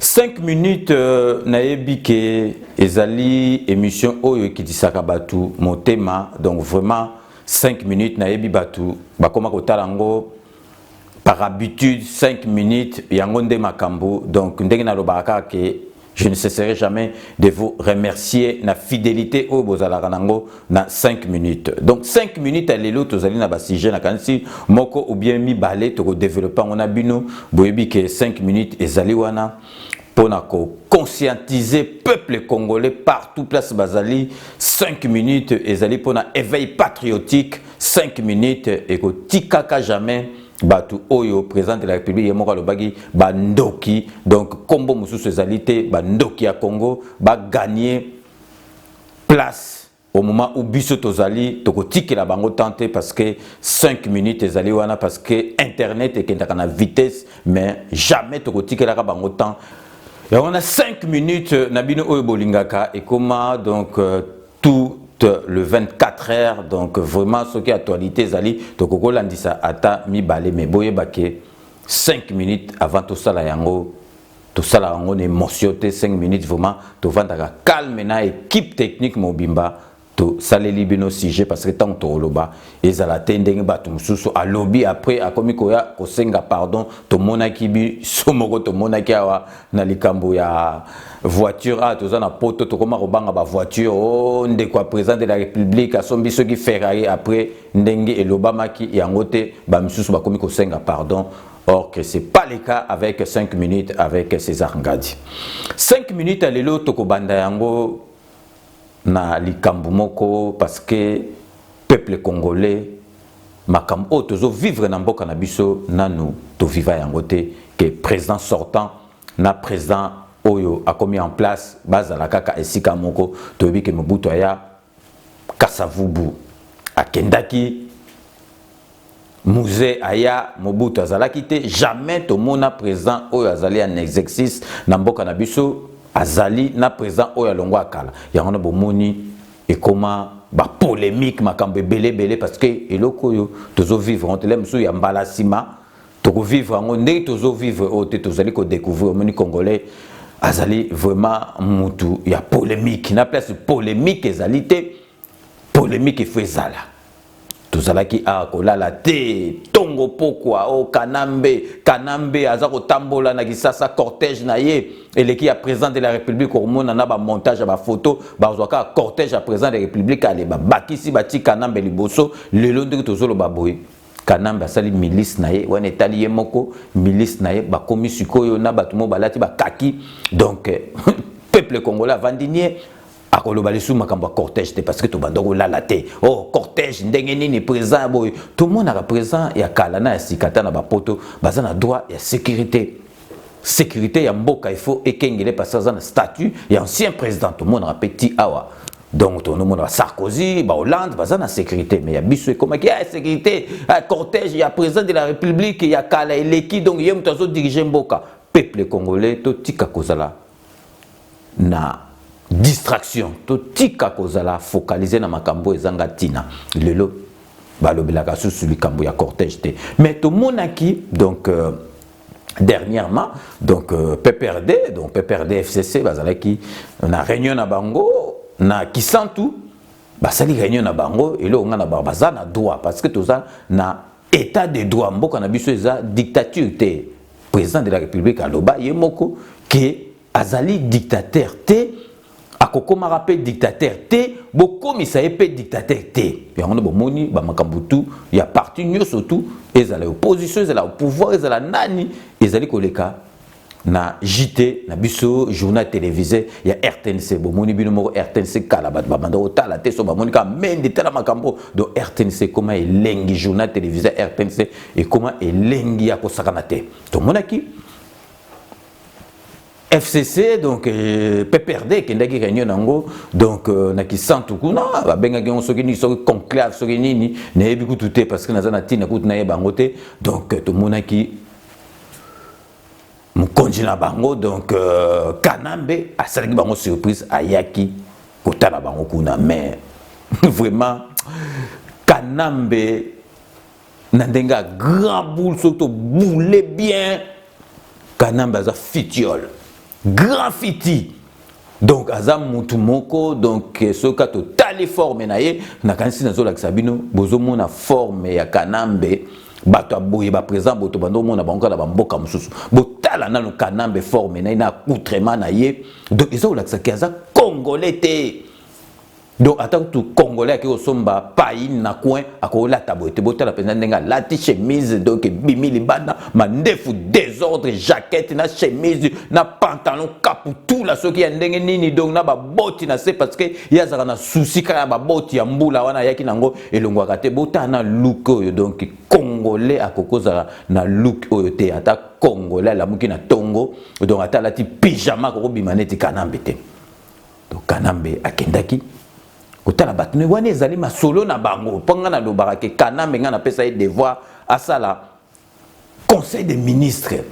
5 minutes euh, nayebi ke ezali émission oyo ekitisaka bato motema donc vraiment 5 minutes nayebi bato bakoma kotala yango par habitude 5 minutes yango nde makambo donc ndenge nalobaka kaka ke je ne cesserai jamais de vous remercier na fidélité oyo bozalaka nango na 5 minutes donc 5 minutes ya lelo tozali na basujet nakanisi moko ou bien mibale tokodevelope yango na bino boyebi ke 5 minutes ezali wana mpo na koconscientiser peuple congolais partout place bazali 5 minutes ezali mpo na éveil patriotique 5 minutes ekotikaka jamais bato oyo président de la république ye moko alobaki bandoki donc nkombo mosusu ezali te bandoki ya congo baganie place au moment où biso tozali tokotikela bango temps te parce que 5 minutes ezali wana parce que internet ekendaka na vitesse mais jamais tokotikelaka bango temps yango wana 5 minutes euh, na bino oyo bolingaka ekoma donc euh, tout euh, le 24 heures donc vraiment soki actualité ezali tokoki kolandisa ata mibale mais boyeba ke 5 minutes avant tosala yango tosalaka yango na émotion te 5 minutes vraiment tovandaka calme na équipe technique mobimba tosaleli bino sujet parce que ntango tokoloba ezala te ndenge bato mosusu alobi après akomi koya kosenga pardon tomonaki biso moko tomonaki awa na likambo ya voiture awa toza na poto tokoma kobanga bavoiture o oh, ndeko ya président de la république asombi soki ferrari après ndenge elobamaki yango te bamisusu bakomi kosenga pardon Or que c'est pas le cas avec 5 minutes avec César Ngadi. 5 minutes à lelo tokobanda yango na likambo moko parce que peuple congolais makambo oyo tozo vivre na mboka na biso nanu toviva yango te ke président sortant na président oyo akomi en place bazala kaka esika moko toyebi ke mobutu aya Kasa Vubu akendaki, Muze aya, Mobutu azalaki te, jamais tomona president oyo azali en exercice na mboka na biso azali na president oyo alongwa ya kala. Yango wana bomoni ekoma ba polemique makambo ebele ebele parce que eloko oyo tozo vivre yango te lelo mosusu ya mbala sima toko vivre yango ndenge tozo vivre oyo te tozali ko découvrir omoni congolais azali vraiment mutu ya polemique na place polemique ezali te polemique il faut ezala tozalaki awa kolala te tongo pokwa o oh, kanambe kanambe aza kotambola na kisasa cortège na ye eleki ya président de la république komona na bamontage ya bafoto bazwa kaka cortège ya président de la république ale babakisi batii kanambe liboso lelo ndenge tozoloba boye Kanambe asali milice na ye wana etali ye moko milice na ye bakomi sikoyo na bato mo balati bakaki donc peuple congolais avandi nie akoloba lisusu makambo ya cortège te parce que tobanda kolala te o oh, cortège ndenge nini président ya boye tomonaka président ya kala na ya sika ata na bapoto baza na droit ya sécurité sécurité ya mboka il faut ekengele parce que aza na statut ya ancien président tomonaka mpe ti awa donc tonomona sarkozy bahollande baza na sécurité mais ya biso ekomaki ya sécurité ya cortège ya président de la république ya kala eleki donc ye moto azodirige mboka peuple congolais totika kozala na distraction totika kozala focalise na makambo oyo ezanga ntina lelo balobelaka susu likambo ya cortège te mais tomonaki donc euh, dernièrement donc euh, PPRD donc PPRD FCC bazalaki na réunion na bango na Kisantu basali réunion na bango eloko nga na bango baza na droit parce que toza na état de droit mboka na biso eza dictature te président de la république aloba ye moko ke Azali dictateur te, akokomaka mpe dictateur te, bokomisa ye mpe dictateur te. Yango nde bomoni bamakambo tu ya parti nyonso tu, ezala opposition, ezala pouvoir, ezala nani, ezali koleka na JT na biso journal televise ya RTNC bomoni bino moko RTNC kala bato babanda kotala te so bamoni kaka mende tala makambo do RTNC ekoma elengi journal televise ya RTNC ekoma elengi ya kosakana te tomonaki FCC donc euh, PPRD ekendaki réunion nango donc euh, na kisantu kuna babengaki yango soki nini soki conclave soki nini nayebi kutu te parce que naza na ntina kutu nayeba yango te donc euh, tomonaki mokonzi na bango donc euh, kanambe asalaki bango surprise ayaki kotala bango kuna mais vraiment kanambe na ndenge ya grand boule soki toboule bien kanambe aza fitiole grand fiti donc aza mutu moko donc eh, soki ka totali forme na ye nakanisi nazolakisa bino bozomona forme ya kanambe bato ya boye baprésent boto bando omona bango kaka na bamboka mosusu botala nano kanambe forme na ye na accoutrement na ye donc eza kolakisa ke aza congolais te donc ata kutu congolais ake kosomba paine na coin akolata boye te botala mpenza ndenge alati chemise donc ebimi libanda mandefu desordre jaquette na chemise na pantalon kaputula soki ya ndenge nini donc na baboti na se parce que ye azalaka na susi kaka ya baboti ya mbula wana ayaki nango elongwaka te botala na look oyo donc congolais akoki kozala na look oyo te ata congolais alamuki na tongo donc ata alati pyjama akokobima neti kanambe te to kanambe akendaki kotala bato me wana ezali masolo na bango mpo ngai nalobaka ke kanambe ngai napesa ye devoir asala conseil de ministre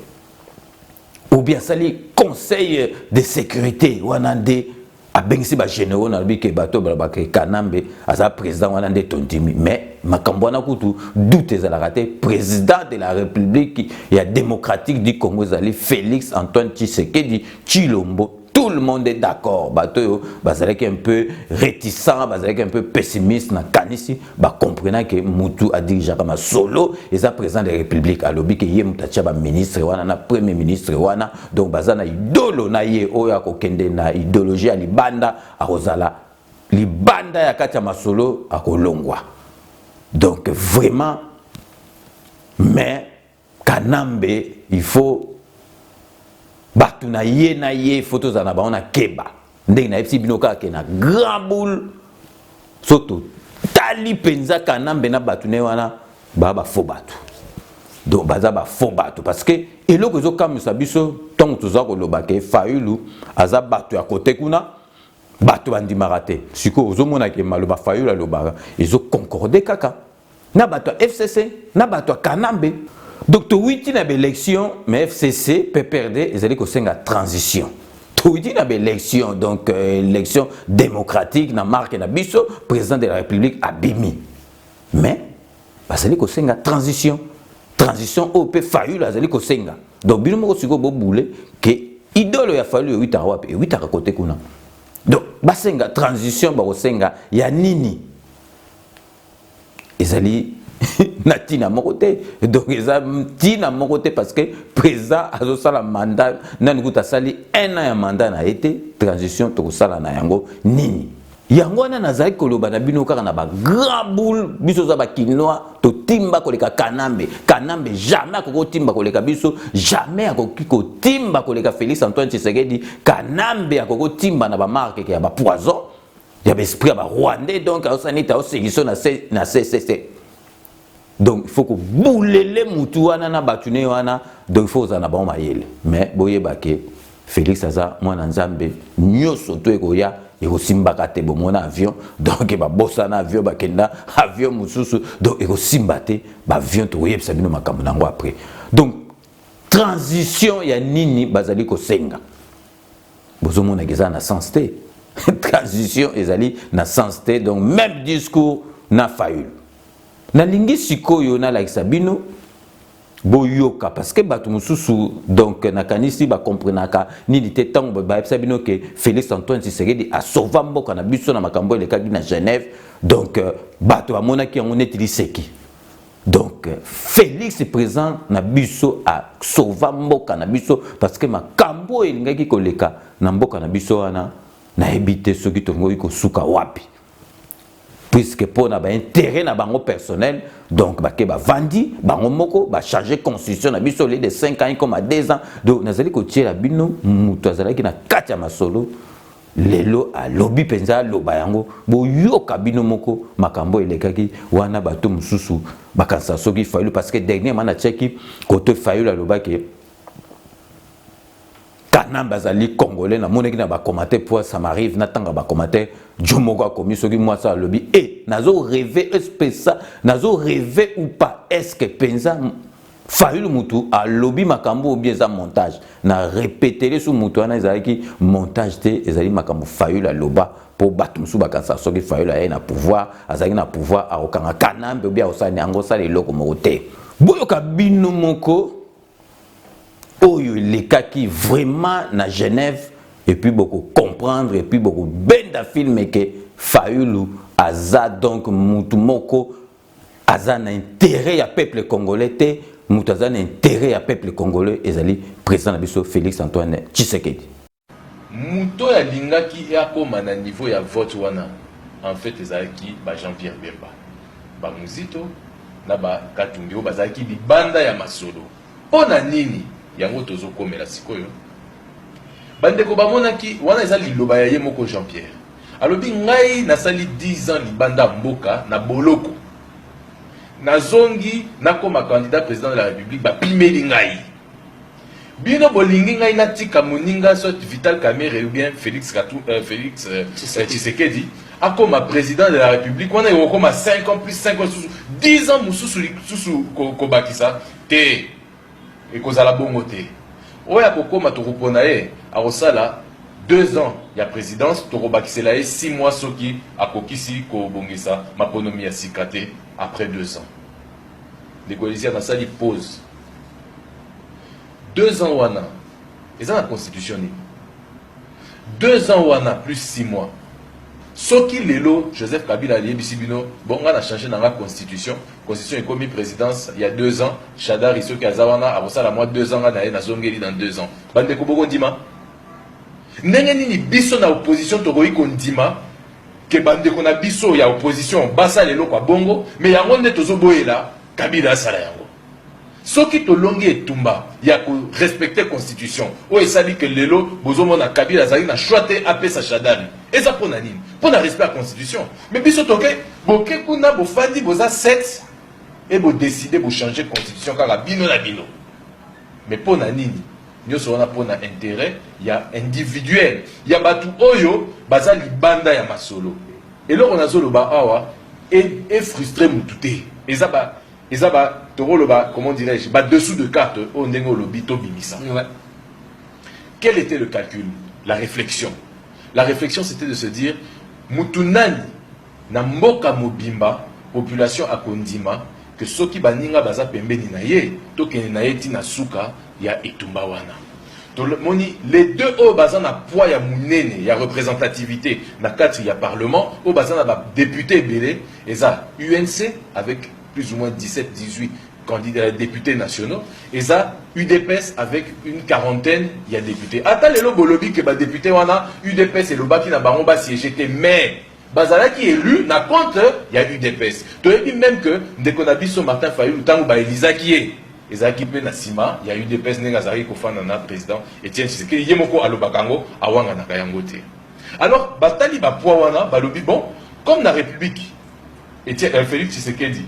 obi asali conseil de sécurité wana nde abengisi bagénéraux nalobi ke bato balobaka kanambe aza président wana nde tondimi mais makambo wana kutu doute ezalaka te président de la république ya démocratique du congo ezali félix antoine tshisekedi tshilombo tout le monde est d'accord bato oyo bazalaki un peu réticent bazalaki un peu pessimiste na kanisi bacomprena ke mutu adirigeaka masolo eza président de la république alobi ke ye moto atya baministre wana na premier ministre wana donc baza na idolo na ye oyo akokende na idéologie ya libanda akozala libanda ya kati ya masolo akolongwa donc vraiment mais Kanambe il faut bato na ye na ye il faut tozala na bango na keba ndenge nayebisi bino kaka ke na grand boule so totali mpenza kanambe na bato na ye wana baa bafo bato donc baza bafo bato parce que eloko ezokamwisa biso ntango toza koloba ke fayulu aza bato ya kote kuna bato bandimaka te sikoyo ozomona ke maloba fayulu alobaka ezoconcorde kaka na bato ya fcc na bato ya kanambe donc towiti na baélection mais fcc pprd ezali kosenga transition towiti na baélection donc euh, élection démocratique na marke na biso président de la république abimi mais bazali kosenga transition transition oyo mpe fayulu azali kosenga donc bino moko sikoyo bobule ke idole ya fayulu ewitaka wapi ewitaka kote kuna donc basenga transition bakosenga ya nini ezali na tina moko te donc eza tina moko te parce que président azosala mandat nani kuta asali un an ya mandat na ye te transition tokosala na yango nini yango wana nazali koloba na bino kaka na bagrand boule biso oza bakinois totimba koleka kanambe kanambe jamais akoki kotimba koleka biso jamais akoki kotimba koleka félix antoine tshisekedi kanambe akoki kotimba na bamarkeke ya bapoison ya ba esprit ya ba rwandais donc aosala neti aosekiso na ccc donc il faut kobulele mutu wana na bato ne wana donc il faut kozala na bango mayele mais boyeba ke félix aza mwana nzambe nyonso to ekoya ekosimbaka te bomona avion donc babosana avion bakenda avion mosusu donc ekosimba te baavion tokoyebisa bino makambo na yango après donc transition ya nini bazali kosenga Bozo mona que eza na sens te. Transition ezali na sens te. Donc même discours na Fayulu. Nalingi sikoyo nalakisa bino boyoka parce que bato mosusu donc nakanisi bakomprenaka nini te ntango bayebisa bino ke félix antoine tshisekedi asova mboka na biso na makambo elekaki na genève donc euh, bato bamonaki yango neti liseki Donc Felix présent na biso a sauva mboka na biso parce que makambo oyo elingaki koleka na mboka na biso wana nayebi te soki tolingoki kosuka wapi puisque mpo na baintérêt na bango personnel donc bake bavandi bango moko bachange constitution na biso olie de 5 ans ekoma 2 ans donc nazali kotiela bino moto azalaki na kati ya masolo lelo alobi mpenza aloba yango boyoka bino moko makambo elekaki wana bato mosusu bakanisa soki fayulu parce que dernièrement natiaki kote fayulu alobaki kanambe azali congolais namonaki na bakomate mpo ça m'arrive natanga bakomate jo moko akomi soki mwasi alobi e eh, nazo reve espesa nazo reve ou pas eske mpenza Fayulu mutu alobi makambo obi eza montage na repetele su mutu wana ezalaki montage te ezali makambo Fayulu aloba mpo bato mosusu bakanisa soki Fayulu ayei na pouvoir azalaki na pouvoir akokanga kanambe obi akosala ni yango osala eloko moko te boyoka bino moko oyo elekaki vraiment na Genève epuis bokocomprendre epuis bokobenda filme ke Fayulu aza donc mutu moko aza na intérêt ya peuple congolais te moto aza na intérêt ya peuple congolais ezali président na biso félix antoine tshisekedi moto oyo alingaki akoma na niveau ya vote wana en fait ezalaki ba jean pierre bemba bamuzito na bakatumbi oyo bazalaki libanda ya masolo Pona nini yango tozo komela sikoyo? Ba ndeko ba monaki wana eza liloba ya ye moko Jean Pierre. Alobi ngai na sali 10 ans libanda mboka na boloko. Na zongi na koma candidat president de la Republique ba pimeli ngai. Bino bolingi ngai na tika moninga soit Vital Kamerhe ou bien Felix Katou, euh, Felix euh, Tshisekedi akoma president de la Republique wana ekokoma 5 ans plus 5 ans susu 10 ans mususu susu kobakisa Te, ekozala bongo te. Oyo akokoma tokopona ye akosala 2 ans ya presidence, tokobakisela ye 6 mois soki akokisi kobongisa maponomi ya sika te après 2 ans. Ndeko Elizia nasali pause. 2 ans wana eza na constitution nini? Deux ans wana plus six mois soki lelo Joseph Kabila aliyebisi bino bon nga na changer na nga constitution constitution ekomi presidence ya deux ans Shadari soki aza wana akosala mwa deux ans nga na ye nazongeli dans deux ans bandeko bokondima ndenge nini biso na opposition tokoki kondima ke bandeko na biso ya opposition basala eloko ya bongo me yango nde tozoboyela Kabila asala yango Soki tolongi etumba ya ko respecter constitution oyo esali que lelo bozomona Kabila azali na choix te apesa Shadary eza pona nini? Pona respect ya constitution mais biso toke boke kuna bofandi boza 7 et bo decider bo changer constitution kaka bino na bino mais pona nini? Nyoso wana pona interet ya individuel ya batu oyo baza libanda ya masolo eloko nazoloba awa e frustre mutu te eza ba Eza ba toko loba comment dirais-je ba dessous de carte oyo ndenge olobi to bimisa. Ouais. Quel était le calcul? La réflexion. La réflexion c'était de se dire mutu nani na mboka mobimba population akondima que soki baninga baza pembeni na ye tokende na ye ti na suka ya etumba wana. tomoni les deux oyo baza na poids ya monene ya représentativité na kati ya parlement oyo baza na badepute ebele Eza UNC avec plus ou moins 17 18 candidats ya députés nationaux eza udps avec une quarantaine ya députés ata lelo bolobi ke badepute wana udps elobaki na bango basiége te mais bazalaki élu na compte ya udps toyebi même que ndeko na biso martin fayulu ntango baelizaki ye ezalaki mpe na nsima ya udps ndenge azalaki kofanda na président etienne tshisekedi ye moko alobaka yango awanganaka yango te Alors batali ba poids wana balobi bon comme na République Etienne euh, Félix Tshisekedi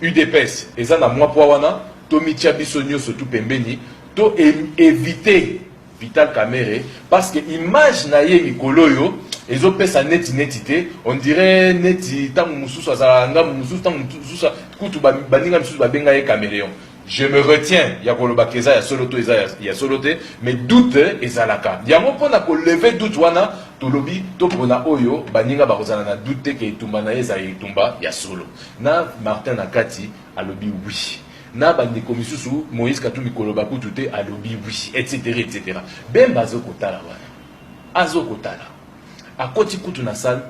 UDPS eza na mwa poids wana tomitia biso nyonso tu pembeni to éviter Vital Kamerhe parce que image na ye mikolo oyo ezopesa neti neti te on dirait neti ntango mosusu azalaka ngambo mosusu ntango mosusu kutu baninga misusu babenga ye cameleon Je me retiens ya koloba keza ya solo to eza ya solo te mais doute ezalaka yango mpona ko lever doute wana tolobi topona oyo baninga bakozala na doute te ke etumba na ye ezala etumba ya solo na Martin na kati alobi oui na bandeko misusu Moïse Katumbi koloba kutu te alobi oui etc etc Bemba azokotala wana azokotala Akoti kutu na salle,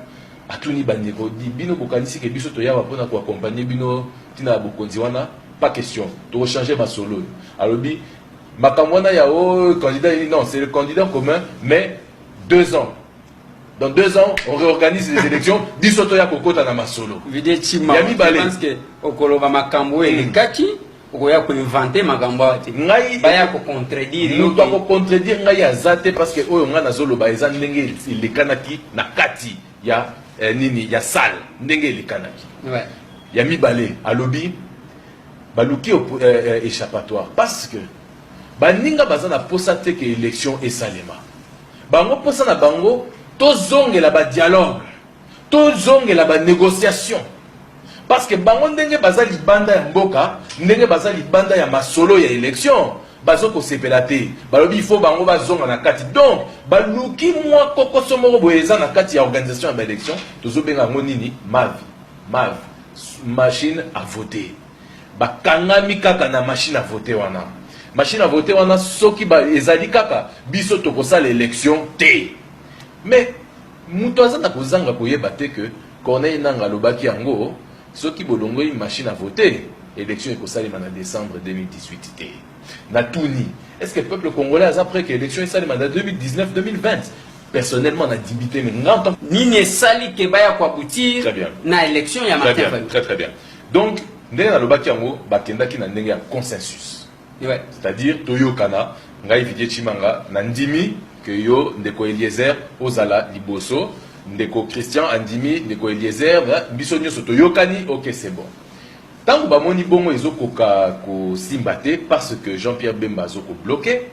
atuni ba ndeko, dit bino bokanisi que biso toye awa pona ko accompagner bino tina ya bokonzi wana? Pas question, toko changer masolo oyo. Alobi makambo wana ya ooh candidat nini, non c'est le candidat commun mais deux ans dans deux ans on reorganise les elections biso toya kokota na masolo ya mibale. okoloba makambo oyo elekaki. okoya ko inventer makambo awa te ngai baya ko contredire moto ako contredire ngai aza te parce que oyo ngai nazoloba eza ndenge elekanaki na kati ya eh, nini ya salle ndenge elekanaki ouais. ya mibale alobi baluki eh, eh, échappatoire parce que baninga baza na posa te ke élection esalema bango posa na bango tozongela badialogue Tozongela ba negociations parce que bango ndenge baza libanda ya mboka ndenge baza libanda ya masolo ya election bazo kosepela te balobi ifo bango bazonga na kati donc baluki mwa kokoso moko boye eza na kati ya organisation ya baélection tozobenga yango nini mavi mavi machine à voter bakangami kaka na machine à voter wana machine à voter wana soki ezali kaka biso tokosala élection te mais Mutu aza na kozanga koyeba te que Corneille Nangaa alobaki yango, soki bolongoli machine à voter, election ekosalema na decembre 2018 te. Natuni, est-ce que peuple congolais aza pret que election esalema na 2019, 2020? Personnellement, nadimi te, mais nga en tant que- Nini esali ke baya Très koabutir bien. na election ya Très Martin bien, Fayulu? très très bien. Donc, ndenge nalobaki yango, bakendaki na ndenge ya consensus. Ouais. C'est à dire toyokana ngai Vidier Chimanga na ndimi que yo ndeko Eliezer ozala liboso ndeko Christian andimi ndeko Eliezer biso nyoso toyokani OK c'est bon. Tango bamoni bongo ezokoka kosimba te parce que Jean-Pierre Bemba azoko bloquer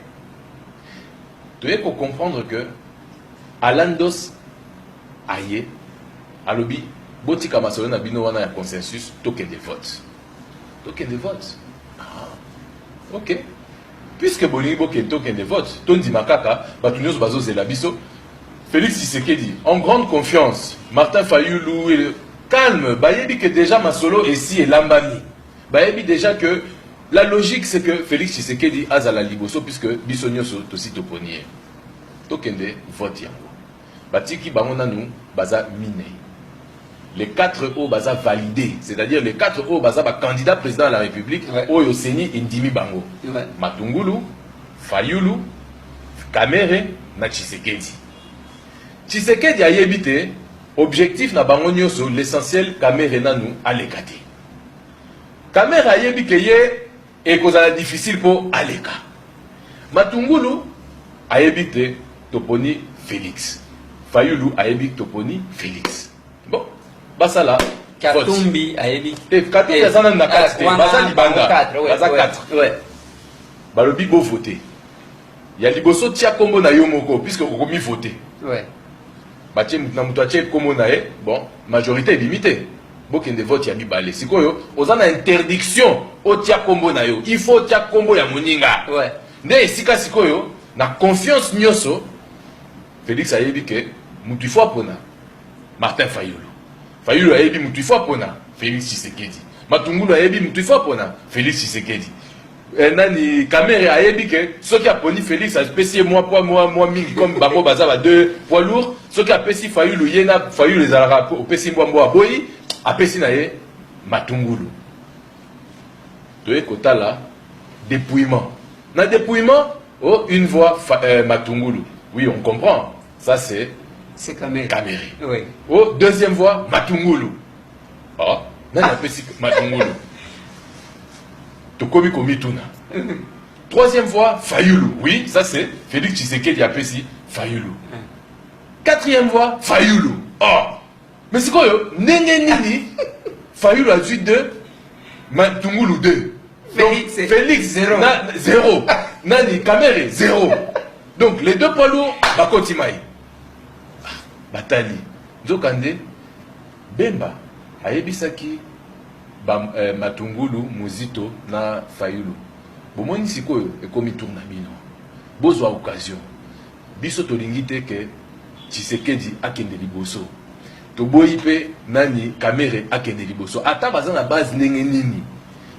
toye ko comprendre que Alandos aye alobi botika masolo na bino wana ya consensus tokende vote tokende vote ah, ok puisque bolingi bokende tokende vote tondima kaka bato nyonso bazozela biso félix tshisekedi en grande confiance martin fayulu calme bayebi que déjà masolo esi elambami bayebi déjà que la logique c'est que félix tshisekedi azala liboso puisque biso nyonso tosi toponi ye tokende vote yango Batiki bango nanu baza minei. Les quatre oyo baza valide, c'est-à-dire les quatre oyo baza ba candidats president ya la Republique ouais. oyo seni endimi bango ouais. Matungulu, Fayulu, Kamere na Tshisekedi. Tshisekedi ayebi te objectif na bango nyonso, l'essentiel Kamere nanu aleka te. Kamere ayebi ke ye Ekozala difficile po aleka. Matungulu ayebi te toponi Felix. Fayulu ayebi toponi Felix. Bon, basala Katumbi ayebi te. Katumbi eh, aza nanu na kati te. Baza libanda. Baza 4. Balobi bo voter. Ya liboso tia kombo na yo moko puisque okomi voter. Ouais. Batie mutu na mutu atie kombo na ye. Bon, majorité ebimi te. Bokende vote ya mibale. Sikoyo oza na interdiction otia kombo na yo. Il faut otia kombo ya moninga. Ouais. Nde esika sikoyo na confiance nyoso Felix ayebi ke mutu il faut apona Martin Fayulu. Fayulu ayebi mutu il faut apona Felix Tshisekedi. Matungulu ayebi mutu il faut apona Felix Tshisekedi. Eh, nani Kamere ayebi ke soki aponi Felix apesi ye mwa poids mwa mwa mingi comme bango baza ba deux poids lourd soki apesi Fayulu ye na Fayulu ezalaka opesi mbwa mbwa aboyi apesi na ye matungulu toye kotala dépouillement na dépouillement oh une voix euh, matungulu oui on comprend ça c'est c'est Kamere, Kamere. Oui. oh deuxième voix matungulu Ah, nani apesi matungulu tokomi komituna troisième voix fayulu oui ça c'est félix tshisekedi apesi fayulu quatrième voix fayulu oh. mais sikoyo ndenge nini fayulu azwi deux matungulu deux donc félix zero, na, zero. nani kamere zero donc les deux poids lourds bakoti mai ah, batali nzokande Bemba ayebisaki ba matungulu muzito na fayulu bomoni sikoyo ekomi tour na bino bozwa occasion biso tolingi te que tshisekedi akende liboso toboyi pe nani kamere akende liboso ata baza na base ndenge nini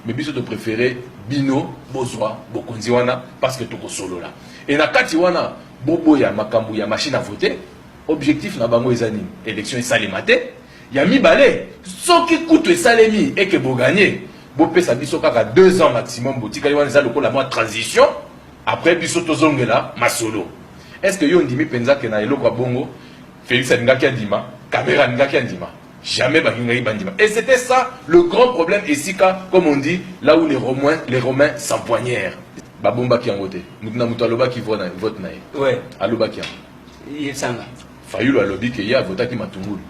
mais biso to prefere bino bozwa bokonzi wana parce que tokosolola et na kati wana boboya makambu ya machine à voter Objectif na bango eza nini? Election esalema te. Ya mibale, soki kutu esalemi et que bo gagner, bo pesa biso kaka deux ans maximum, botikali wana eza lokola mwa transition, après biso tozongela masolo. Est ce que yo ondimi penza que na eloko ya bongo Felix alingaki andima, Kamerhe alingaki andima? Jamais balingaki bandima. Et c'était ça le grand problème esika, comme on dit, là où les Romains, les Romains s'empoignèrent. Babombaki yango te. Mutu na mutu alobaki vote na ye. Ouais. Alobaki yango. Fayulu alobi ke ye avotaki matungulu.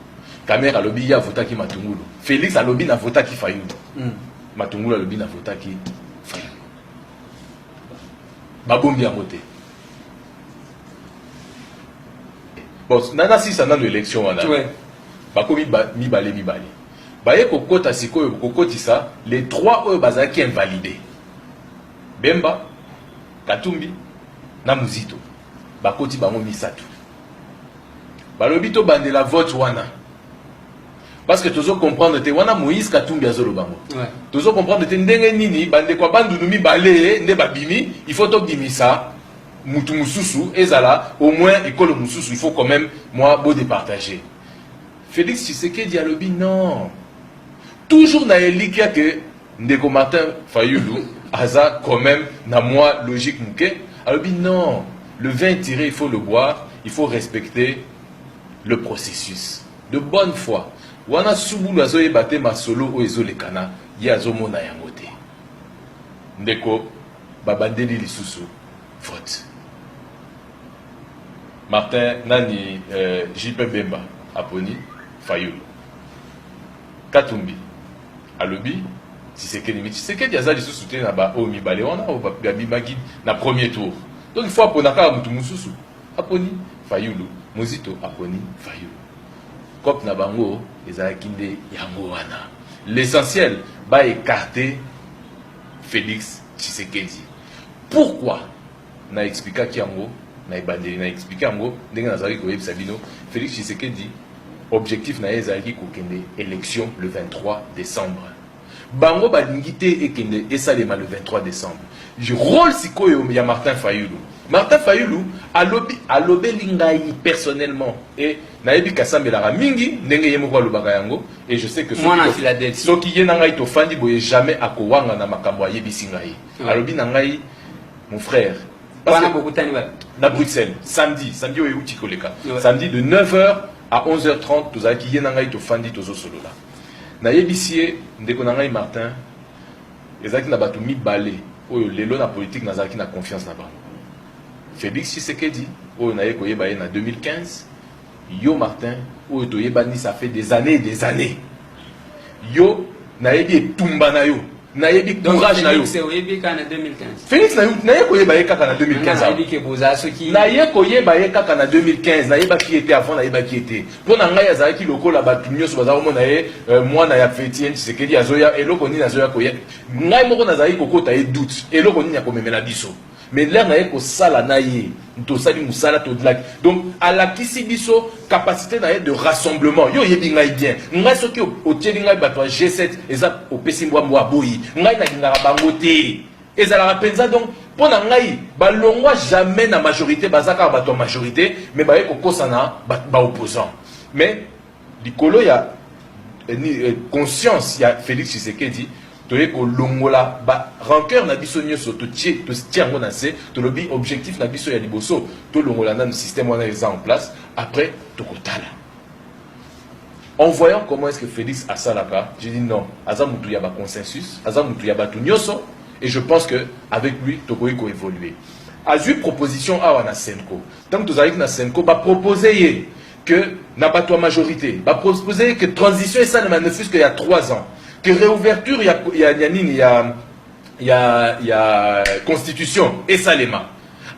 Kamere alobi ye avotaki matungulu. Felix alobi na votaki Fayulu. Mm. Matungulu alobi na votaki Fayulu. Babombi yango te. Bon, nana sisa nano election wana. Bakomi mibale mibale. Baye kokota sikoyo kokotisa les trois oyo bazalaki invalidés. Bemba, Katumbi na Muzito. Bakoti bango misatu balobi to bandela vote wana parce que tozo comprendre te wana Moïse Katumbi azoloba ngo ouais. tozo comprendre te ndenge nini bandeko ya bandundu mibale nde babimi il faut tobimisa mutu mususu ezala au moins ekolo mususu il faut quand même moi bo départager Félix Tshisekedi alobi non toujours na elikya que Ndeko Martin Fayulu aza quand même na mwa logique muke alobi non le vin tiré il faut le boire il faut respecter le processus de bonne foi wana subulu azoyeba te masolo oyo ezolekana ye azomona yango te ndeko babandeli lisusu vote martin nani euh, jp bemba aponi fayulu katumbi Alobi Tshisekedi mais Tshisekedi aza lisusu te na ba oyo mibale wana oyo babimaki na premier tour. Donc il faut apona kaka mutu mususu. Aponi Fayulu, Muzito aponi Fayulu. Cop na bango ezalaki nde yango wana. L'essentiel ba écarter Félix Tshisekedi. Pourquoi? Na explikaki yango na ebandeli, na explike yango ndenge nazalaki koyebisa bino, Felix Tshisekedi objectif na ye ezalaki kokende election le 23 decembre. Bango balingi te ekende esalema le 23 decembre. Role sikoyo ya Martin Fayulu. Martin Fayulu alobi alobeli ngai personnellement et nayebi kasambelaka mingi ndenge ye moko alobaka yango et je sais que mwana Philadelphie soki ye na ngai tofandi boye jamais akowanga na makambo ayebisi ngai. Alobi na ngai Mon frère. Parce que, na Bruxelles, samedi, samedi oyo euti koleka. Samedi de 9h à 11h30 tozalaki ye na ngai tofandi tozosolola. Nayebisi ye ndeko na ngai Martin ezalaki na bato mibale oyo lelo na politique nazalaki na confiance na bango. Félix Tshisekedi oyo naye koyeba ye na 2015 Yo Martin oyo toyebani ça fait des annees et des annees yo nayebi etumba na yo nayebi courage na yo Felix naye koyeba ye kaka na 2015 naye koyeba ye kaka na 2015 nayebaki ye te avant nayebaki ye te mpo na ngai azalaki lokola bato nyonso baza komona ye euh, mwana ya fetien tshisekedi azoya eloko nini azoya koya ngai moko nazalaki kokota ye doute eloko nini akomemela biso Mais l'heure naye kosala na ye tosali musala todlaki donc alakisi biso capacité na ye de rassemblement yo oyebi ngai bien ngai soki otieli ngai bato ya g7 eza opesi mbwa mbwa aboyi ngai nalingaka bango te ezalaka mpenza donc mpo na ngai balongwa jamais na majorité baza kaka bato ya majorité mais baye kokosana baopposant mais Likolo ya conscience ya Felix Tshisekedi toye kolongola ba rancœur na biso nyoso totie totie yango na se tolobi objectif na biso ya liboso tolongola nanu système wana eza en place après tokotala en voyant comment est-ce que Félix asalaka j'ai dit non aza mutu ya ba consensus aza mutu ya batu nyoso et je pense que avec lui tokoki ko évoluer azui proposition awa na Senko ntango tozalaki na Senko ba proposer ye que na bato ya majorité baprospose que transition esalema ne fusque ya 3 ans que réouverture ya, ya, ya nini ya, ya, ya constitution esalema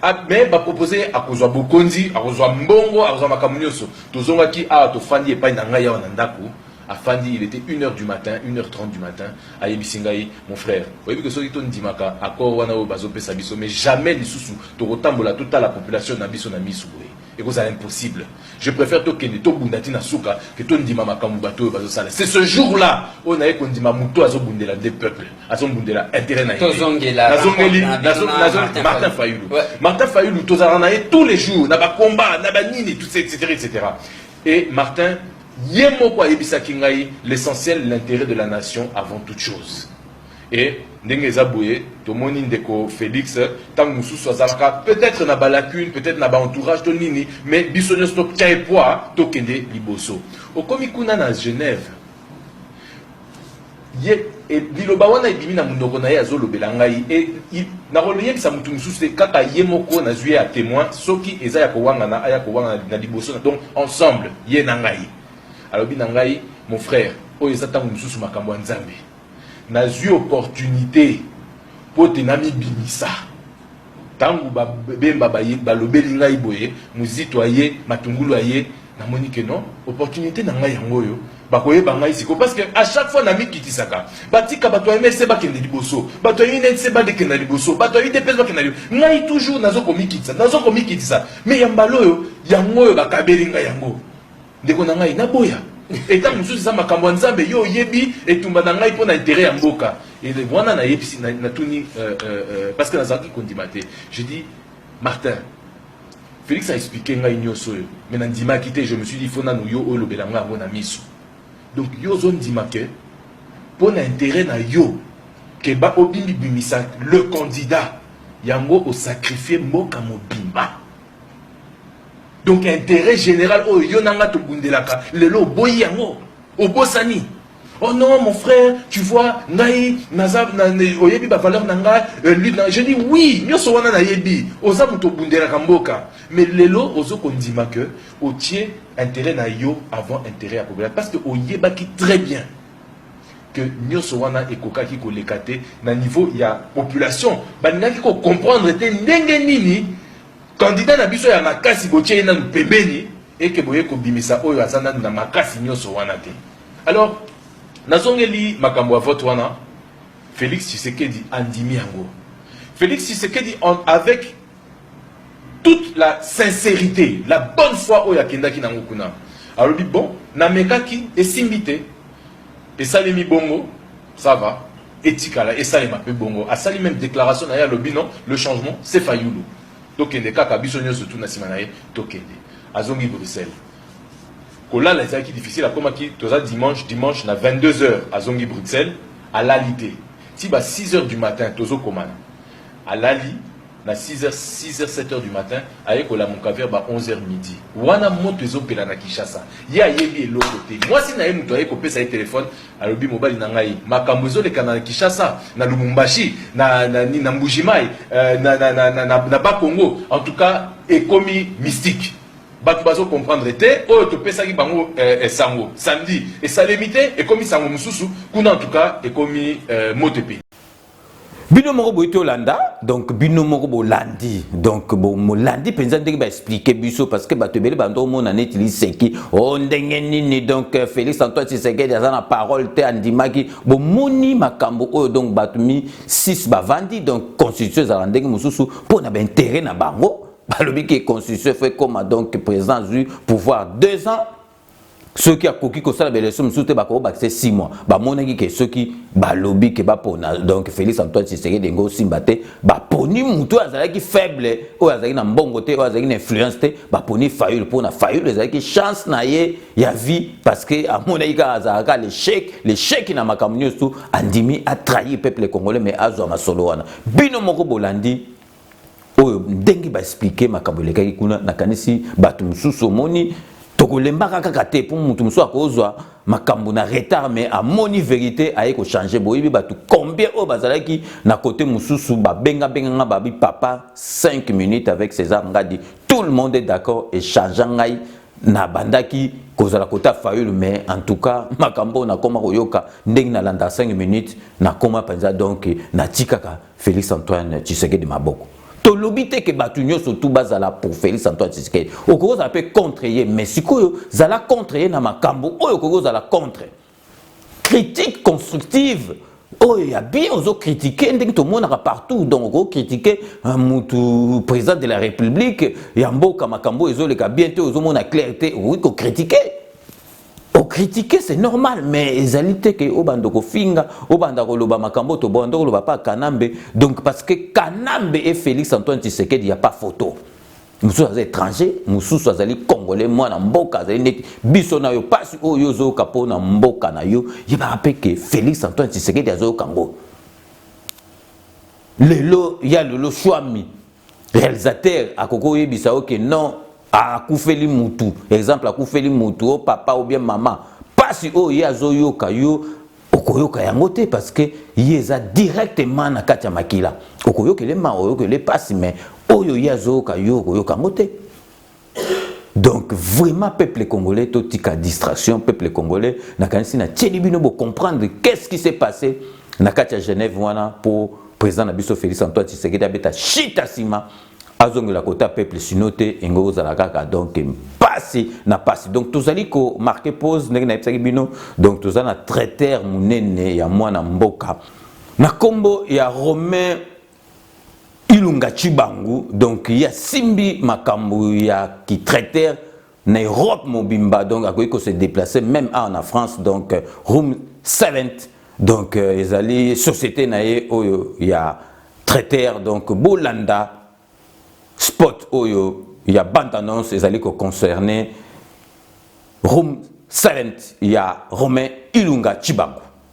ah, me bapropose akozwa bokonzi akozwa mbongo akozwa makambo nyonso tozongaki awa tofandi epai na ngai awa na ndako afandi il était 1h du matin 1h30 du matin ayebisi ngai mon frère oyebi ke soki tondimaka accord wana oyo bazopesa biso mais jamais lisusu tokotambola totala population na biso na misu boye Ekozala impossible. Je prefère tokende tobunda ti na suka ke tondima makambo bato oyo bazosala. C'est ce jour là oyo naye kondima moto azobundela nde peuple, azombundela intérêt na ye. Tozongela nazongeli nazongeli Martin Fayulu. Martin Fayulu tozala na ye tous les jours na ba combat na ba nini tout ça etc etc. Et Martin ye moko ayebisaki ngai l'essentiel l'intérêt de la nation avant toute chose. Et ndenge eza boye tomoni ndeko Felix tango mosusu azalaka peut-être na balacune peut-être na baentourage to nini mais biso nyonso totya ye poids tokende liboso okomi kuna na Genève ye e, liloba wana ebimi na monoko na ye azolobela ngai e, e, nakoyebisa motu mosusu te kaka ye moko nazwi ye ya témoin soki eza ya kowangana aya kowangana na liboso na donc ensemble ye na ngai alobi na ngai mon frère oyo eza ntango mosusu makambo ya nzambe Nazui opportunite mpo te namibimisa. Tango ba Bemba baye balobeli ngai boye, Muzito aye, Matungulu aye, namoni que non, opportunite na ngai yango oyo, bakoyeba ngai sikoyo. Parce que à chaque fois namikitisaka, batika bato ya MLC bakende liboso, bato ya UNEDC badekenda liboso, bato ya UDPS bakenda liboso, ngai toujours nazo komikitisa, nazo komikitisa. Mais ya mbala oyo, yango oyo bakabeli ngai yango. Ndeko na ngai naboya etango mosusu eza makambo ya Nzambe yo oyebi etumba na ngai mpo na interet ya mboka wana nayebisi natuni euh, euh, euh, parce que nazalaki kondima te je dis Martin Felix a expliqué ngai nyonso oyo mais nandimaki te je me suis dit fo nanu yo olobela ngai yango na miso donc yo ozondima ke mpo na interet na yo ke ba obimibimisa le candidat yango osakrifie mboka mobimba donc intérêt général oyo yo na nga tobundelaka lelo oboyi yango obosani Oh non, mon frère, tu vois, ngai, naza, na, oyebi ba valeur na ngai, euh, lui, na, je dis oui, nyoso wana na yebi, oza muto bundela kamboka. Mais lelo, ozo kondima que, otie intérêt na yo avant intérêt à populaire. Parce que oyebaki très bien. que nioso wana ekokaki koleka te na niveau ya population balingaki ko comprendre te ndenge nini candidat na biso ya makasi botie ye nanu pembeni eke boye kobimisa oyo aza nanu na makasi nioso wana te alors nazongeli makambo ya vote wana Felix Tshisekedi andimi yango Felix Tshisekedi en, avec toute la sincérité la bonne foi oyo akendaki nango kuna alobi bon namekaki esimbi te esalemi bongo ça va etikala esalema mpe bongo asali meme déclaration na ye alobi non le changement c'est fayulu tokende kaka biso nyonso tu na nsima na ye tokende azongi bruxelles kolala ezalaki difficile akomaki toza dimanche dimanche na 22 heures azongi bruxelles alali te ti ba 6 heures du matin tozokomana alali na 6 heures 6 heures 7 heures du matin aye kolamuka vers ba 11 heures midi wana moto ezopela na Kinshasa ye ayebi eloko te mwasi na ye moto aye kopesa ye telefone alobi mobali na ngai makambo ezolekana na Kinshasa na Lumumbashi na, na, na, na Mbujimai euh, na, na, na, na, na, na Bakongo en tout cas ekomi mystique bato bazo comprendre te oyo topesaki bango eh, eh, sango samedi esalemi te ekomi sango mosusu kuna en tout cas ekomi eh, moto epe bino moko boyi tolanda donc bino moko bolandi donc molandi mpenza ndenge baexplike biso parce que bato ebele bando omona neti liseki o oh, ndenge nini donc euh, félix antoine tshisekedi aza na parole te andimaki bomoni makambo oyo donc bato mi 6 bavandi donc constitution ezalaka ndenge mosusu mpo na baintere na bango balobi ke constitution fo ekoma donc président azwi pouvoir 2 ans soki akoki kosala baelection mosusu te bakoki bakisa 6 mois bamonaki ke soki balobi ke bapona donc félix antoine tshisekedi enge osimba te baponi motu oyo azalaki faible oyo azalaki na mbongo te oyo azalaki na influence te baponi fayule mpona fayule ezalaki chance na ye ya vie parce que amonaki kaka azalaka lechec lechec na makambo nyonso andimi atrahir peuple congolais mais azwa masolo wana bino moko bolandi oyo ndenge ba expliquer makambo elekaki kuna nakanisi bato mosusu omoni tokolembaka kaka te mpo moto mosusu akozwa makambo na retard mais amoni verité aye kochange boyebi bato combien oyo bazalaki na kote mosusu babengabenganga babi papa 5 minutes avec césar ngadi tout le monde est d'accord echangea ngai nabandaki kozala kota fayulu mais en tout cas makambo oyo nakoma koyoka ndenge nalanda 5 minutes nakoma mpenza donc natikaka Felix Antoine Tshisekedi maboko. tolobi te ke bato nyonso tu bazala pour Felix Antoine Tshisekedi okoki kozala mpe contre ye mais sikoyo zala contre ye na makambo oyo okoki kozala contre critique constructive oyo ya bien ozo kritike ndenge tomonaka partout donc oko kritike euh, mutu président de la république ya mboka makambo oyo ezoleka bien te ozomona clair te okoki kokritike Ko critiquer c'est normal mais ezali te ke obanda kofinga, obanda koloba makambo to banda koloba pa Kanambe donc parce que Kanambe et Felix Antoine Tshisekedi ya pas photo. mosusu aza étranger mosusu azali congolais mwana mboka azali neti biso na yo mpasi oyo yo ozoyoka mpo na mboka na yo yebaka mpe ke félix antoine tshisekedi azoyoka yango lelo ya lelo shwami realisateur akoki oyebisa yo ke non akufeli mutu exemple akufeli mutu o oh, papa ou bien mama mpasi oyo ye azoyoka yo okoyoka yango te parce que ye eza directement na kati ya makila okoyokele mawa oyoka ele mpasi mais oyo ye azoyoka yo okoyoka yango te donc vraiment peuple congolais totika distraction peuple congolais nakanisi natieli bino bocomprendre qu'est ce qui s'est passé na kati ya genève wana mpo président na biso félix antoine tshisekedi abeta shita nsima azongela kota peuple sino te engo kozala kaka donc mpasi na mpasi donc tozali komarke pose ndenge nayebisaki bino donc toza na traitere monene ya mwana mboka na nkombo ya romain Ilunga Tshibangu donc ye asimbi makambo ya kitraiter na Europe mobimba donc akoki ko se déplacer même awa na France donc room 7 donc euh, ezali société na ye oyo ya traiter donc bolanda spot oyo ya bande annonce ezali ko concerner room 7 ya Romain Ilunga Tshibangu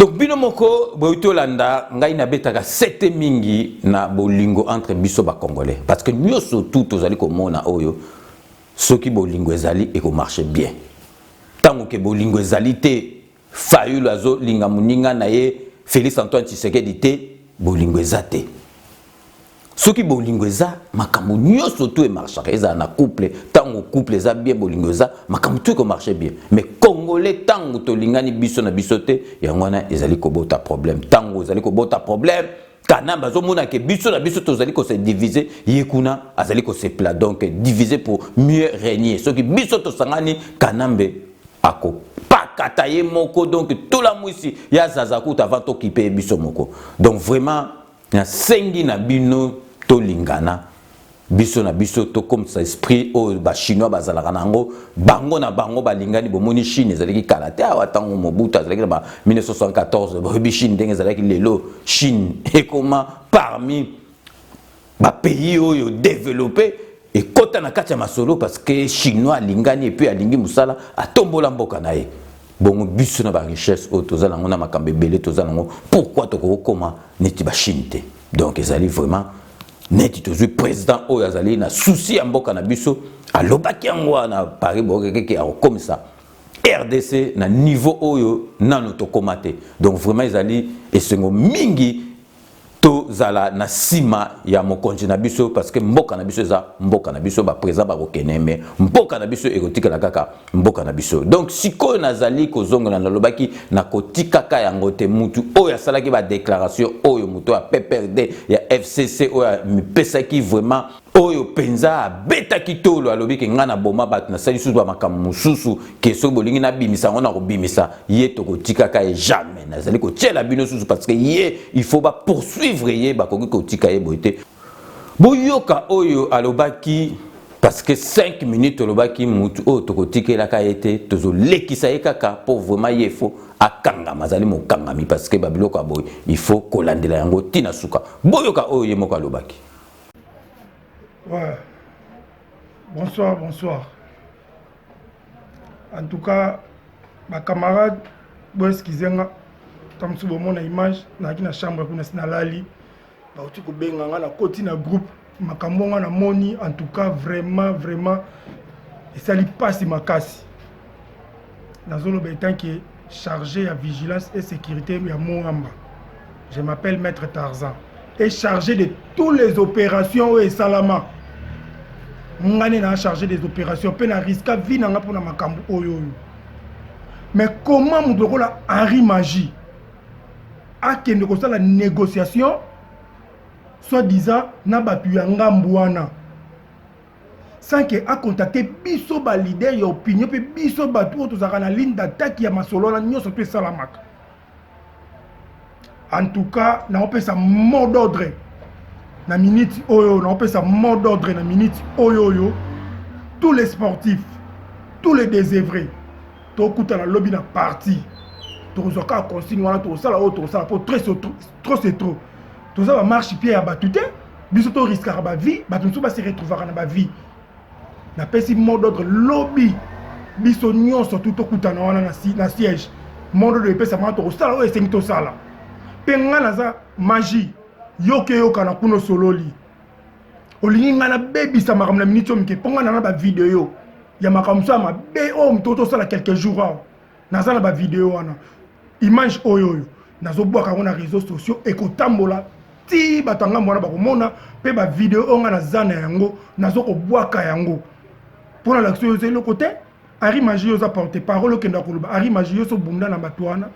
donc bino moko boyi tolanda ngai nabetaka sete mingi na bolingo entre biso bacongolais parce que nyonso tout tozali komona oyo soki bolingo ezali ekomarche bien ntango ke bolingo ezali te Fayulu azo linga muninga na ye Felix Antoine Tshisekedi te bolingo eza te soki bolingo eza makambo nyonso tu emarchaka ezala na couple ntango couple eza bien bolingo eza makambo tu ekomarche bien mais congolais ntango tolingani biso na biso te yango wana ezali kobota problème ntango ezali kobota problème kanambe azomona ke biso na biso tozali kose divise ye kuna azali kosepela donc divise pour mieux régner soki biso tosangani kanambe akopakata ye moko donc tolamwisi ya zaza kuta avant tokipe ye biso moko donc vraiment nasengi na bino tolingana biso na biso tokomisa esprit oyo bachinois bazalaka na yango bango na bango balingani bomoni chine ezalaki kala te awa ntango mobutu azalaki na 1974 boyebi chine ndenge ezalaki lelo chine ekoma parmi bapays oyo developpe ekota na kati ya masolo parce que chinois alingani epuis alingi mosala atombola mboka na ye bongo biso na barichesse oyo toza nango na makambo ebele toza nango pourkui tokoki kokoma neti bachine te donc ezali vraiment neti tozwi president oyo azali na susi ya mboka na biso alobaki yango wana paris bokekeke akokomisa rdc na niveau oyo nano tokoma te donc vraiment ezali esengo mingi tozala na nsima ya mokonzi na biso parce que mboka na biso eza mboka na biso baprezida bakokende me mboka na biso ekotikala kaka mboka na biso donc sikoyo nazali kozongela nalobaki nakotikaka yango te mutu oyo asalaki badeklaration oyo moto ya pprd ya fcc oyo amipesaki vraiment oyo mpenza abetaki tolo alobi ke ngai naboma bato nasali susu bamakambo mosusu ke soki bolingi nabimisa yango nakobimisa ye tokotikaka ye jamais nazali kotyela bino susu parce que ye il faut bapoursuivre ye bakoki kotika ye boye te Boyoka oyo alobaki parce que 5 minutes olobaki mutu oyo tokotikelaka ye te tozolekisa ye kaka mpo vraiment ye faut akangama azali mokangami parce que babiloko ya boye il faut kolandela yango ti na suka boyoka oyo ye moko alobaki ouais. bonsoir bonsoir en tout cas bacamarade boeskize nga ntango mosusu bomona image nayaki na chambre kuna si nalali bauti kobenga nga nakoti na groupe makambo nga namoni en tout cas vraiment vraiment esali mpasi makasi nazoloba etant que chargé ya vigilance et sécurité ya moamba je m'appelle maître tarzan et chargé de tous les opérations oyo esalama nga nde naa chargé des opérations mpe na riska vie na nga mpo na makambo oyo oyo mais comment moto lokola henri magie akende kosala negociation soit disant na bato ya ngambu wana sans que acontacte biso ba leader ya opinion mpe biso bato oyo tozalaka na ligne d'attaque ya masolo wana nyonso mpe esalamaka en tout cas naopesa mot d'ordre na minute oyo naopesa mot d'ordre na minute oyo oyo tous les sportifs tous les désœuvrés tokutana lobi na parti tokozwa kaka consigne wana tokosala oyo tokosala mpo trop c'est trop toza bamarche pie ya bato te biso toriskaka bavie bato mosusu basi retrouvaka na bavie napesi mot d'ordre lobi biso nyonso tu tokutana wana na siège mot d'ordre epesaka wana tokosala oyo esengi tosala mpe ngai naza magie yokeyokana kuna osololi olingi ngai nabebisa makambo na miniti oyo mike mpo ngai nana bavideo ya makambo mosusu ya mabe oyo moto tosala quelque jour awa naza na bavideo wana image oyo oyo nazobwaka yango na réseau sociaux ekotambola ti bato ya ngambo wana bakomona mpe bavideo oyo ngai naza na yango nazo kobwaka yango mpo na lakisa oyo eza eloko te Harry Magie yo oza porte parole okenda koloba Harry Magie yo so bunda na bato wana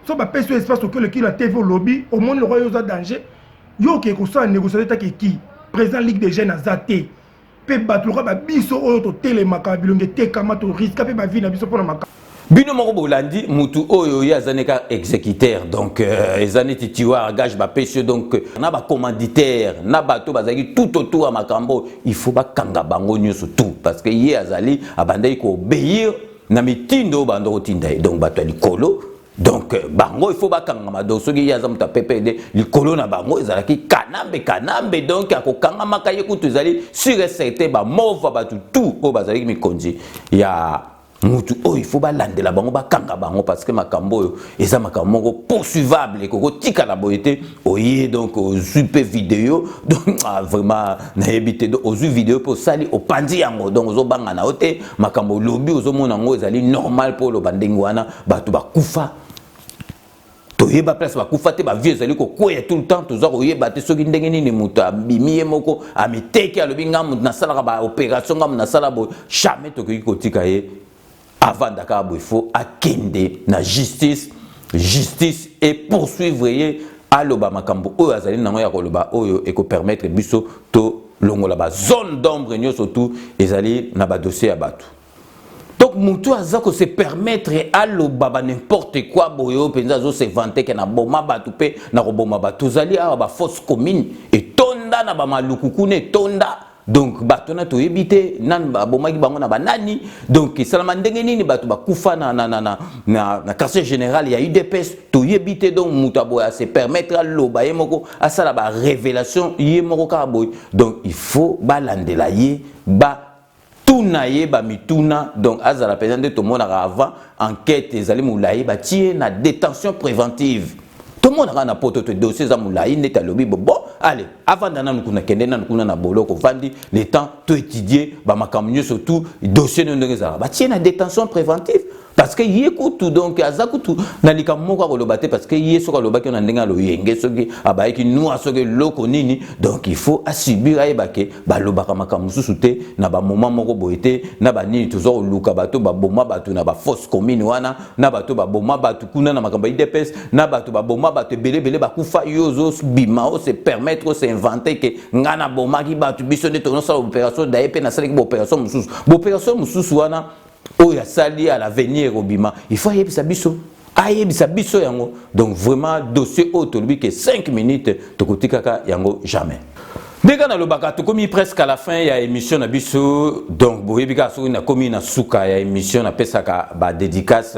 so bapesi yo espace oki oleki na TV olobi omoni lokwa yo oza danger yo okei kosala négociation etaki eki président ligue des jeunes aza te mpe bato lokwa babiso oyo totelemaka bilongi etekama toriska mpe bavi na biso mpo na makambo bino moko bolandi mutu oyo ye aza neka exécuteur donc euh, eza neti tiwar gage bapesi yo donc na bacommanditaire na bato bazalaki tout autour ya makambo il faut bakanga bango nyonso tout parce que ye azali abandaki koobéir na mitindo oyo banda kotinda ye donc bato ya likolo donc euh, bango il faut bakangama donc soki ye aza moto ya ppd likolo na bango ezalaki kanambe kanambe donc akokangamaka ye kutu ezali sur et certain bamova bato tout oyo bazalaki mikonzi ya mutu oyo faut balandela bango bakanga bango parce que makambo oyo eza makambo moko poursuivable ekoko tikala boye te oye donc ozwi mpe video donc ah, vraiment nayebi te donc ozwi video mpe osali opanzi yango donc ozobanga na yo te makambo olobi ozomona yango ezali normal mpo oloba ndenge wana bato bakufa toyeba place bakufa te bavie ezali kokweya tout le temps toza koyeba te soki ndenge nini moto abimi ye moko amiteki alobi ngai moto nasalaka baopération ngai moto nasala boye jamais tokoki kotika ye avanda kaka boye fo akende na justice justice e poursuivre ye aloba makambo oyo azali nango ya koloba oyo ekopermettre biso tolongola bazone d'ombre nyonso tout ezali na badossier ya bato donc mutu aza ko se permettre aloba ba n'importe quoi boye oyo mpenza azo se vante ke naboma bato mpe na koboma bato tozali awa ba fausse commune etonda na bamaluku kuna etonda donc bato wana toyebi te nani babomaki bango na banani donc esalama ndenge nini bato bakufa na, na, na, na, na, na quartier général ya udps toyebi te donc moto aboye ase permettre aloba ye moko asala barévélation ye moko kaka boye donc il faut balandela ye ba tuna ye ba mituna donc azala penza nde tomonaka avant enquête ezali mulayi batie na détention préventive tomonaka na poto te dossier eza mulayi ndeti alobi bobo allez avanda nanu kuna kende nanu kuna na boloko vandi le temps to étudier ba makambo nyoso tout dossier no ndenge ezalaka batie na détention préventive parce que ye kutu donc aza kutu na likambo moko akoloba te parce que ye soki alobaki na ndenge ya loyenge soki abayaki nwa soki eloko nini donc il faut asubir ayeba ke balobaka makambo mosusu te na bamoma moko boye te na banini toza koluka bato baboma bato na bafosse commune wana na bato baboma bato kuna na makambo ya idps na bato baboma bato ebele ebele bakufa yo ozobima ose permettre ose invente ke ngai nabomaki bato biso nde tonosala baopération daye mpe nasalaki baopération mosusu baopération mosusu wana oyo asali à l'avenir ekobima il faut ayebisa biso ayebisa biso yango donc vraiment dossier oyo tolobi ke 5 minutes tokotikaka yango jamais ndenge nalobaka tokomi presque à la fin ya émission na biso donc boyebi kaka soki nakomi na suka ya émission napesaka badédicace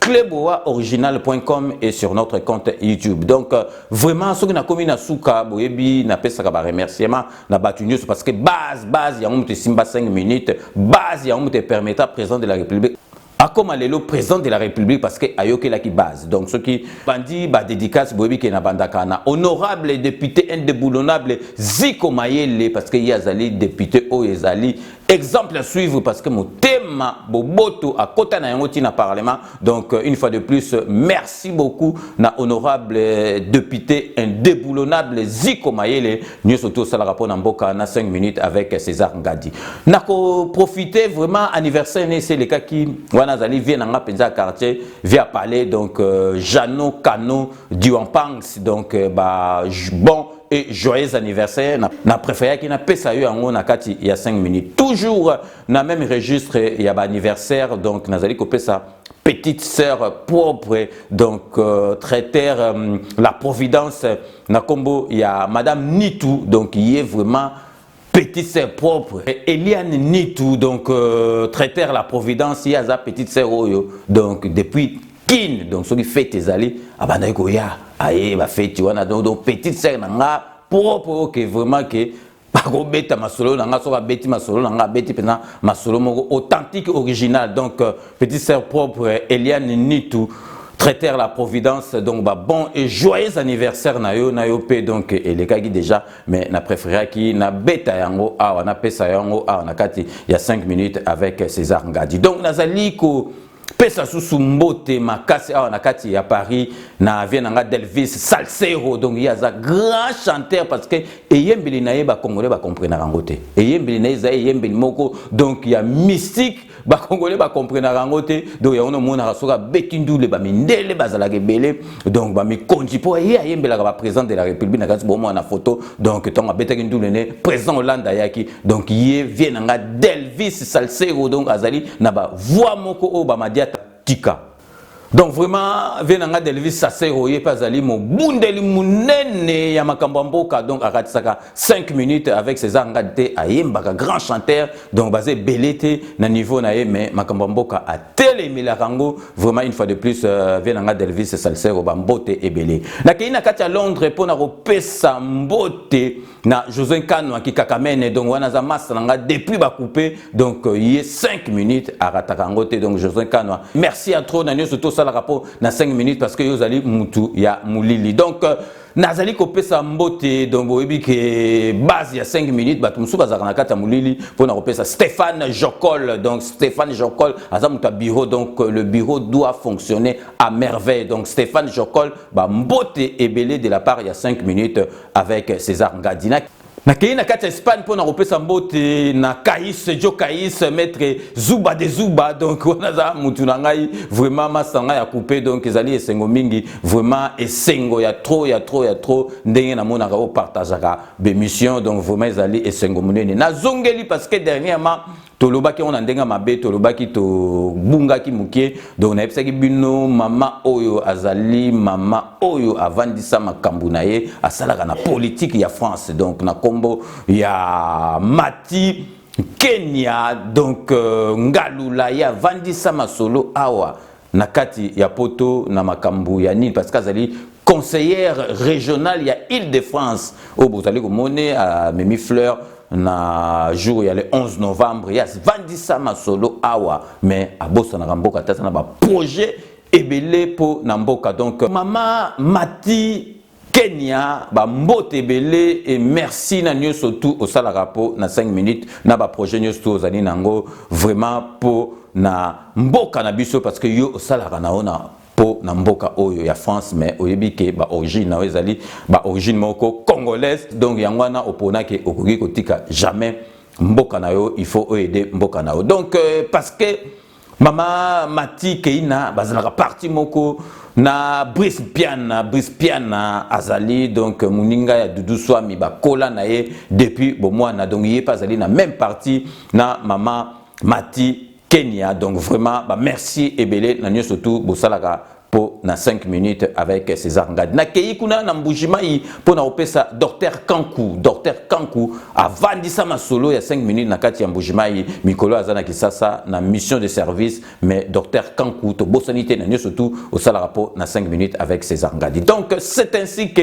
Clubwa original.com et sur notre compte YouTube. Donc euh, vraiment soki na komi na suka boyebi na pesaka ba remerciement na batu nyoso parce que base base ya mutu simba 5 minutes, base ya mutu permettra président de la République akoma lelo président de la république parce que ayokelaki base donc soki bandi badédicace boyebi ke na bandaka na honorable député indéboulonnable ziko mayele parce que ye azali député oyo ezali Exemple à suivre parce que Motema Boboto a kota na yango na parlement. Donc euh, une fois de plus, euh, merci beaucoup na honorable euh, député indéboulonnable Ziko Mayele, nous surtout ça rapport na mboka na 5 minutes avec César Ngadi. Nako profiter vraiment anniversaire né c'est le cas qui wana zali vient na penza quartier via palais donc euh, Jeannot Cano Diwanpangs donc euh, bah bon et joyeux anniversaire na, na préféraki na pesa yo yango na kati ya 5 minutes toujours na même registre ya ba anniversaire donc nazali kopesa petite sœur propre donc euh, traiter euh, la providence na kombo ya madame Nitu donc ye vraiment petite sœur propre Eliane Nitu donc euh, traiteur la Providence ye aza petite sœur oyo donc depuis Kin donc soki fete ezali abandaki koya aye ba fete wana donc, donc petite sœur na nga propre oyo ke vraiment ke akobeta masolo na nga soki abeti masolo na nga abeti mpenza masolo moko authentique original donc euh, petite sœur propre Eliane Nitu traiteur la providence donc ba bon et joyeux anniversaire na yo na yo pe donc elekaki déjà mais na préféraki na beta yango awa na pesa yango awa na kati ya 5 minutes avec César Ngadi donc nazali ko pesa susu mbote makasi awa na kati ya Paris na vie na nga Delvis Salsero donc ye aza grand chanteur parce que eyembeli na ye ba congolais ba comprenaka yango te eyembeli na ye eza eyembeli moko donc ya mystique bakongole bakomprenaka yango te donc yango namonaka soki abeti ndule bamindele bazalaka ebele donc bamikonzi mpo ye ayembelaka baprésident de la république na kati bomwana na foto donc ntango abetaki ndule ne président hollande ayaki donc ye vie na nga delvis salsero donc azali na bavoi moko oyo bamadi atika donc vraiment vie na ngai delvis sasero ye mpe azali mobundeli monene ya makambo ya mboka donc akatisaka 5 minutes avec césar ngadi te ayembaka grand chanteur donc baza ebele te na niveau na ye mais makambo ya mboka atelemelaka yango vraiment une fois de plus euh, vie na ngai delvis sasero bambote ebele nakei na kati ya londres mpo na kopesa mbote na José Nkano akikakamene donc wana za masta na nga depuis ba couper donc euh, ye 5 minutes arataka yango te donc José Nkano merci à trop na nioso tosalaka mpo na 5 minutes parce que yo ozali mutu ya molili donc euh, nazali kopesa mbote donc boyebi ke base ya 5 minutes bato mosusu bazalaka na kati ya molili mpo na kopesa stéphane jocol donc stéphane jocol aza moto ya bureau donc le bureau doit fonctionner à merveille donc stéphane jocol bambote ebele de la part ya 5 minutes avec César Ngadi. nakei na kati ya espagne mpo na kopesa mbote na kais jo kais maître zuba de zuba donc wana aza mutu na ngai vraiment masa ngai ya coupe donc ezali esengo mingi vraiment esengo ya trop ya trop ya trop ndenge namonaka opartageaka bemission donc vraiment ezali esengo monene nazongeli parce que dernièrement tolobaki yango na ndenge ya mabe tolobaki tobungaki moke donc nayebisaki bino mama oyo azali mama oyo avandisa makambo na ye asalaka na politike ya france donc na nkombo ya mati kenya donc euh, ngalula ye avandisa masolo awa na kati ya poto na makambo ya nini parce que azali conseillère régionale ya ile de france oyo bozali komone amemi fleur na jour ya le 11 novembre ye avandisa masolo awa mais abosanaka mboka te aza na baprojet ebele mpo na mboka donc mama mati Kenya ba mbote ebele et merci na nioso tout osalaka po na 5 minutes na ba projet nioso tout ozali nango vraiment po na mboka na biso parce que yo osalaka na ona po na mboka oyo ya France mais oyebi ke ba origine na yo ezali ba origine moko congolaise donc yango wana opona ke okoki kotika jamais mboka na yo il faut oaide mboka na yo donc euh, parce que Mama Mati Keina bazalaka parti moko na Brice Piana Brice Piana azali donc muninga ya Doudou Swami bakola na ye depuis bomwana donc ye pe azali na même parti na mama Mati Kenya donc vraiment ba merci ebele na nioso tout bosalaka po na 5 minutes avec César Ngadi. Na keyi kuna na Mbujimayi po na opesa Docteur Kanku, Docteur Kanku avandisa masolo ya 5 minutes na kati ya Mbujimayi mikolo aza na Kisasa na mission de service mais Docteur Kanku tobosani te na nioso tout osalaka po na 5 minutes avec César Ngadi. Donc c'est ainsi que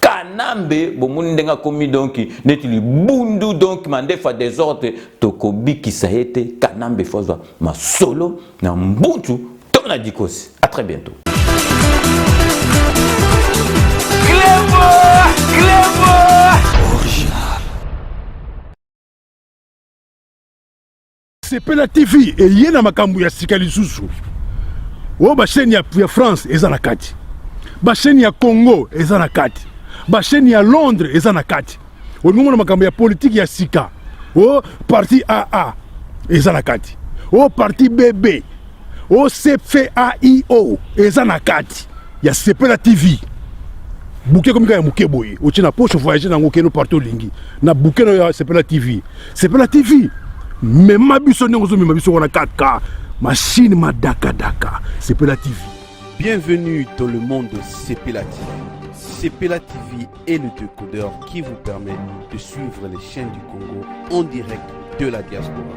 kanambe bomoni ndenge akomi donki neti libundu donki mandefu ya desordre tokobikisa ye te kanambe fo azwa masolo na mbuntu to na dikosi a très bientôt Clébo, Clébo. Sepela TV eye na makambo ya sika lisusu oyo basheni ya, ya France eza na kati, basheni ya Congo eza na kati, basheni ya Londres eza na kati. Olingi omona makambo ya politiki ya sika o parti AA eza na kati, o parti BB OCFAIO eza na kati ya Sepela TV. Buke komika ya muke boye, otie na poche voyager nango keno partout lingi. Na buke na ya Sepela TV. Sepela TV. Mema biso ndenge ozo mema biso wana kaka machine madaka daka. Sepela TV. Bienvenue dans le monde de Sepela TV. Sepela TV est le décodeur qui vous permet de suivre les chaînes du Congo en direct de la diaspora.